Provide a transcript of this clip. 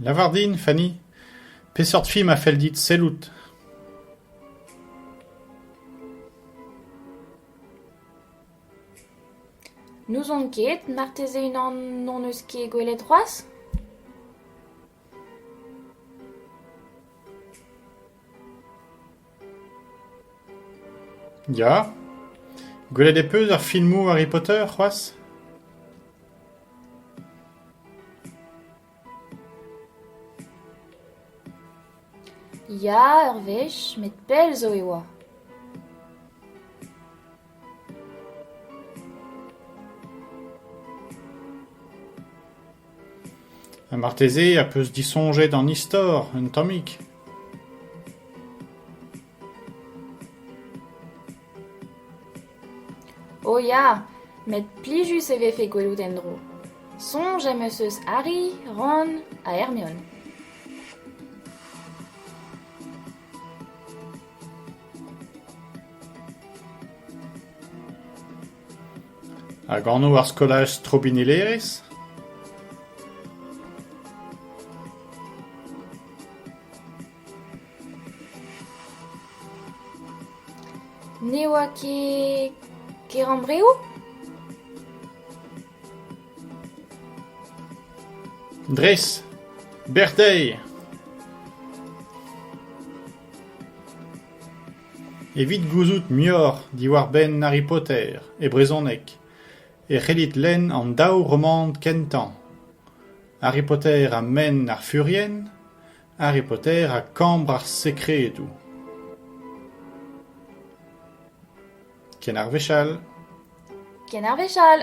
Lavar din, Fanny, peseurt film a fell dit sellout ? N'ouzon ket, marteze unan n'hon eus ket gwelet c'hoazh ? Ya ? Gwelet ez peus ar filmoù Harry Potter c'hoazh ? Ya, ur wech, met pell zo e oa. Ha marteze a peus disoñjet an istor un tammig ? O ya, met plijus e vefe gwelout en-dro. Soñj am eus eus Harry, Ron ha Hermione. Hag anv ar skolaj strobinellerezh ? Ne oa ket Kerambreo ? Dres, Berteuil ! Evit gouzout muioc'h diwar-benn Harry Potter e brezhoneg e c'hellit lenn an daou romant kentañ Harry Potter ha Menn ar Furien, Harry Potter ha Kambr ar Sekredoù. Ken ar wech all. Ken ar wech all.